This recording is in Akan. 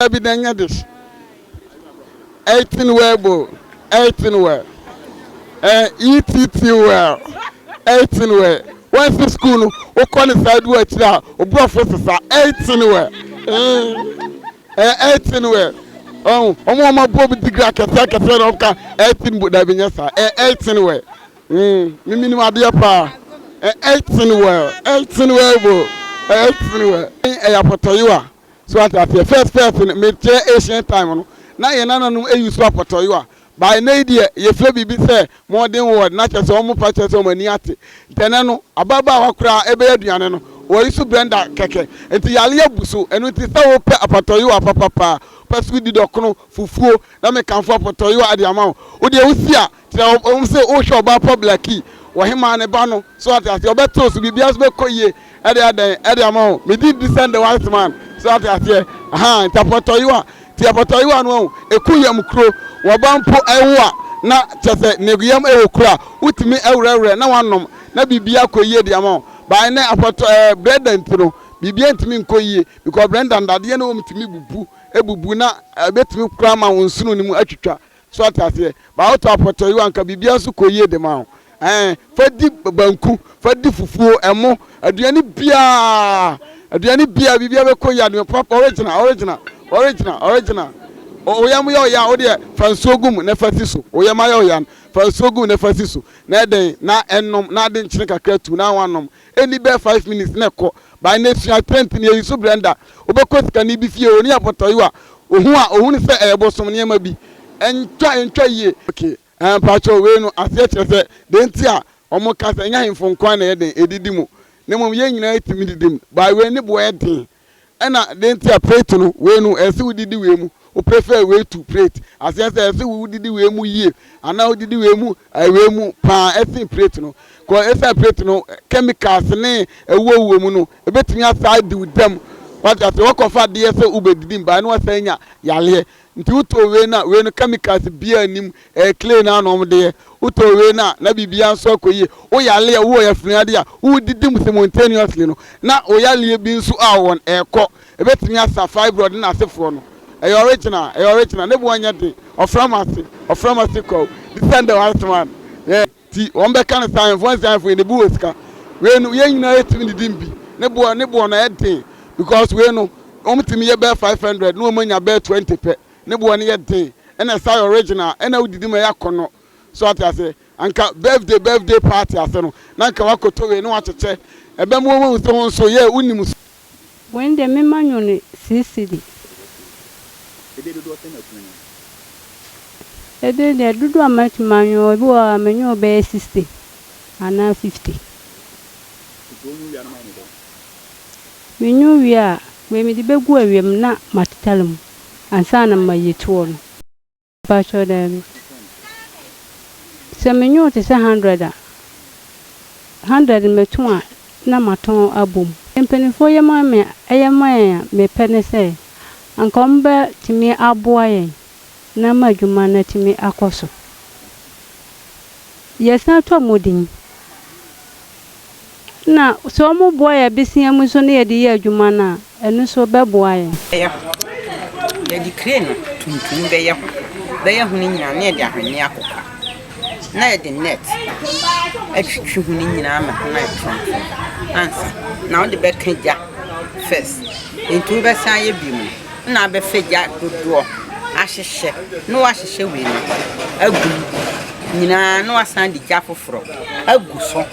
Daabi da nyɛ de hye. Eating well bo eating well eh ETT well eating well wɔn si sukuu no wokɔ ne saa du akyire a oborɔfo sesa eating well eh eating well ɔn wɔn wɔn abɔ bi digiri akɛse akɛse na ɔka eating bo daabi nyɛ saa eh eating well mimi nim adeɛ paa eh eating well eating well bo eating well ɛyɛ apɔtɔyewa. So wate aseɛ? First first no me teɛ ancient time no na yɛn nananom ayi so apɔtɔyowa but ɛnɛ yi deɛ yɛfrɛ biribi sɛ modern world na kyerɛ sɛ wɔn fa kyerɛ sɛ wɔn ani ate nti ɛnɛ no ababaawa koraa ɛbɛyɛ aduane no wɔyi so blender kɛkɛ nti yale abu so ɛno nti sɛ wopɛ apɔtɔyowa papapaa pɛ so di dɔkono fufuo na mekamfo apɔtɔyowa de ama wo wodeɛ wosi a Sɛ wohu sɛ wohwɛ ɔbaa pa Blackie, ɔhemaa ne ba no, so ate aseɛ, ɔbɛte wo so, biribiara nso bɛkɔ yie de adɛn de ama wo. Me din de Send the Wise Man, so ate aseɛ, ahaa, nti apɔtɔyewa, nti apɔtɔyewa no, wahu, ɛku yam kuro, wɔba mpo wo a, na kyerɛ sɛ ne yam wɔ kuro a, wotumi werɛwerɛ na woanom, na biribiara kɔ yie de ama wo. But ɛnnɛ, apɔtɔ ɛɛ, Brenda nti no, biribiara ntumi nkɔ yie, because Brenda no, dadeɛ no wɔ mu tumi bubu, ɛbubu, na ɛbɛtumi koraa ama wo nsono no mu atwitwa. So ɔte aseɛ? Ba woto apɔtɔyewa anka biribiara nso kɔ yie dema wo ɛɛ fa di banku fa di fufuo ɛmo aduane biara aduane biara biribiara bɛkɔ yie aduane papa original original original original oyam yɛ ɔya wo deɛ fa nsuo gu mu na fa si so oyam ayɛ ɔya no fa nsuo gu mu na fa si so na ɛdɛn na ɛnom na ade nkyene kakra tu na wanom Ɛnni bɛyɛ five minutes na ɛkɔ. By na sua trend ni, eyi so Brenda. Wobɛkɔ sikani bi fie, ɔni abɔtɔyewa, ohu a, ohunu sɛ ɛyɛ bosom nneɛma bi. Ɛntwa, ɛntwa yie. Okay, ɛɛ mpakyɛw, wei no aseɛ kyerɛ sɛ dɛn nti a wɔka sɛ ɛnyɛ ahemfo nko ara na ɛyɛ dɛn, ɛdidi mu, na mmom yɛn nyinaa tumi didi mu? By wei ne boɔ yɛ den. Ɛna den nti a plate no wei no ɛsɛ wo didi wei mu wo prefer wei to plate aseɛ sɛ ɛsɛ wo didi wei mu yie anaa wo didi wei mu ɛɛ wei mu paa ɛsen plate no kɔ ɛsan plate no chemicals ne ɛwuo wuo mu no ɛbɛtumi asaa di wo dɛm wate aseɛ wakɔfa adeɛ sɛ wobɛdidi mbae na wasan nya yareɛ Nti wotɔɔ wei no a wei no chemicals biaa nnim, ɛyɛ clay no ara na wɔde yɛ. Wotɔɔ wei no a na biribiara nso akɔ yie. Woyare a, wowɔ yafunu adeɛ a wodidi mu simultaneously no, na wo yareɛ bi nso a wɔn ɛrekɔ. Ɛbɛtumi asa fibroid no asefoɔ no. Ɛyɛ original, ɛyɛ original. Ne bo nyɛ den. Ɔframa ase, ɔframa ase kwawu. This time the wise man, yeah. Nti wɔn bɛka no saa, Ɛnfoɔ nsi Ɛnfoɔ yi ne bo wɔ sika, wei no yɛn nyinaa yɛ tumi didi mbi, ne boɔ ne boɔ no ayɛ den, because wei no wɔn tumi yɛ bɛyɛ five hundred na wɔn anya bɛyɛ twenty pɛ, ne boɔ no yɛ den, ɛna ɛsa yɛ original, ɛna wodidi ma ɛyɛ akɔnɔ, so wate aseɛ, anka birthday birthday party ase no na anka wakoto wei na wakyekyɛ ɛbɛma wɔn ahu sɛ wɔn nso yɛ wonim so. Wei no deɛ mema nwo no six cedi. Edin dodoɔ sɛn na atumi anwo no? Edin deɛ dodoɔ a matumi anwo, ebi wɔ hɔ a menwoo bɛyɛ sixty anaa fifty. Nti wonwo wie a na moayɛ no dɛn? Menwo wie a, wei mede bɛgu awiam na matetare mu ansa na mayi toɔ no. Mpakyɛw daabi. Sɛ menyow te sɛ hundred a, hundred no mɛtu a na matɔn abɔ mu. Mpanyimfoɔ yɛ ma me a yɛ ma yɛn a mepɛ ne sɛ anka wɔbɛtumi aboa yɛn na ama adwuma no atumi akɔ so. Yɛsan tɔ modin. Nna sɛ wɔboa yɛn abesea mu so na yɛde yɛ adwuma no a, ɛno so bɛboa yɛn. Bɛyɛ ho. Yɛde kire no tuntum bɛyɛ ho. Bɛyɛ ho no nyinaa na yɛde ahweneɛ akokwa, na yɛde nɛt atwitwi ho no nyinaa ma ho no ayɛ frɔmfrɔm ansa na wode bɛka gya first. Nti wobɛsan ayɛ bio no na abɛfa gya dodoɔ ahyehyɛ na wahyehyɛ wei no agu mu nyinaa na wasan de gya foforɔ agu so.